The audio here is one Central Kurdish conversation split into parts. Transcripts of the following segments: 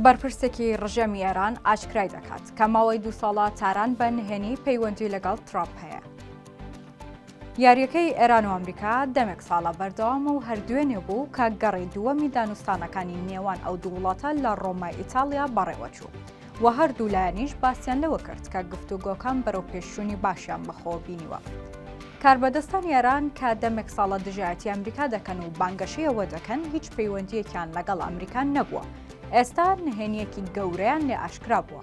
بەرپرسێکی ڕژێمی ئێران ئاشکرای دەکات کە ماوەی دوو ساڵە تاران بە نهێنی پەیوەندی لەگەڵ ترامپ هەیە. یاریەکەی ئێران و ئەمریکا دەمێک ساڵە بەردەوام و هەردوێنێ بوو کە گەڕی دووەمی دانوستانەکانی نێوان ئەو دوو وڵاتە لە ڕۆمای ئیتالیا بەڕێوەچوو و هەردوو لایەنیش باسییان لەوە کرد کە گفتوگۆکان بەرەو پێشوونی باشیان بەخۆ بینیوە. کاربەدەستانی ئێران کە دەمێک ساڵە دژایەتی ئەمریکا دەکەن و بانگەشەی ئەوە دەکەن هیچ پەیوەندییەکیان لەگەڵ ئەمریکا نەبووە، ئێستا نهێنییەکی گەورەیان لێ ئاشکرا بووە.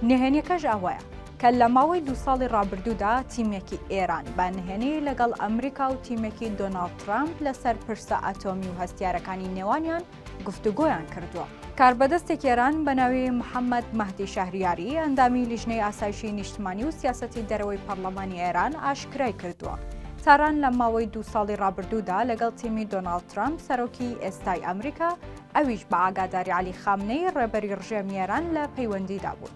نهێنییەکەش ئەوەیە، کە لە ماوەی دوو ساڵی ڕابردوودا تیمێکی ئێران بە نهێنی لەگەڵ ئەمریکا و تیمێکی دۆناڵد ترەمپ لەسەر پرسە ئەتۆمی و هەستیارەکانی نێوانیان گفتوگۆیان کردووە. کاربەدەستێکی ئێران بە ناوی محەممەد مەهدی شەهریاری، ئەندامی لیژنەی ئاسایشی نیشتمانی و سیاسەتی دەرەوەی پەرلەمانی ئێران ئاشکرای کردووە، تاران لە ماوەی دوو ساڵی ڕابردوودا لەگەڵ تیمی دۆناڵد ترەمپ، سەرۆکی ئێستای ئەمریکا، ئەویش بە ئاگاداری عەلی خامنەیی ڕێبەری ڕژێمی ئێران لە پەیوەندیدا بوون.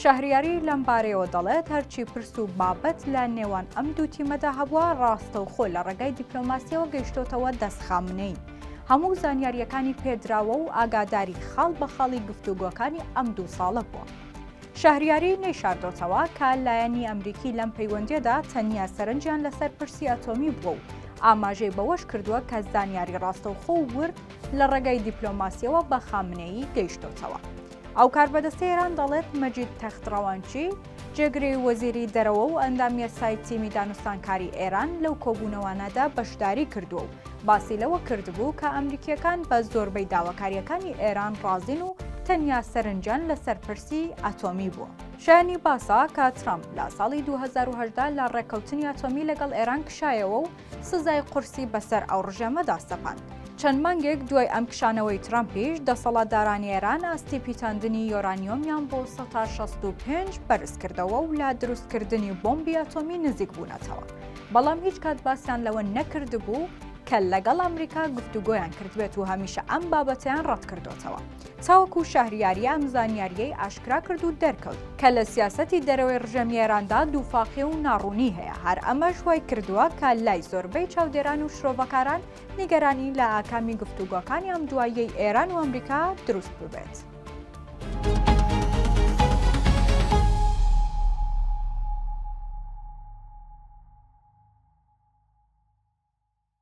شەهریاری لەم بارەیەوە دەڵێت، هەرچی پرس و بابەت لە نێوان ئەم دوو تیمەدا هەبووە، ڕاستەوخۆ لە ڕێگای دیپلۆماسیەوە گەیشتۆتەوە دەست خامنەیی. هەموو زانیارییەکانی پێدراوە و ئاگاداری خاڵ بە خاڵی گفتوگۆکانی ئەم دوو ساڵە بووە. شەهریاری نەیشاردۆتەوە کە لایەنی ئەمریکی لەم پەیوەندیەدا تەنیا سەرنجیان لەسەر پرسی ئەتۆمی بووە و ئاماژەی بەوەش کردووە کە زانیاری ڕاستەوخۆ و ورد لە ڕێگای دیپلۆماسیەوە بە خامنەیی گەیشتۆتەوە. ئەو کاربەدەستەی ئێران دەڵێت، مەجید تەخت ڕەوانچی، جێگری وەزیری دەرەوە و ئەندام یاسای تیمی دانوستانکاری ئێران لەو کۆبوونەوانەدا بەشداری کردووە و باسی لەوە کردبوو کە ئەمریکییەکان بە زۆربەی داواکارییەکانی ئێران ڕازین و تەنیا سەرنجیان لەسەر پرسی ئەتۆمی بووە. شایانی باسە کە ترەمپ لە ساڵی دوو هەزار و هەژدە لە ڕێککەوتنی ئەتۆمی لەگەڵ ئێران کشایەوە و سزای قورسی بەسەر ئەو ڕژێمەدا سەپاند. چەند مانگێک دوای ئەم کشانەوەی ترەمپیش، دەسەڵاتدارانی ئێران ئاستی پیتاندنی یۆرانیۆمیان بۆ سەتا شەست و پێنج بەرزکردەوە و لە دروستکردنی بۆمبی ئەتۆمی نزیکبوونەتەوە، بەڵام هیچ کات باسیان لەوە نەکردبوو کە لەگەڵ ئەمریکا گفتوگۆیان کردبێت و هەمیشە ئەم بابەتەیان ڕەتکردۆتەوە. تاوەکو شەهریاری ئەم زانیارییەی ئاشکرا کرد و دەرکەوت کە لە سیاسەتی دەرەوەی ڕژێمی ئێراندا دووفاقی و ناڕوونی هەیە هەر ئەمەش وای کردووە کە لای زۆربەی چاودێران و شرۆڤەکاران نیگەرانی لە ئاکامی گفتوگۆکانی ئەم دواییەی ئێران و ئەمریکا دروست ببێت.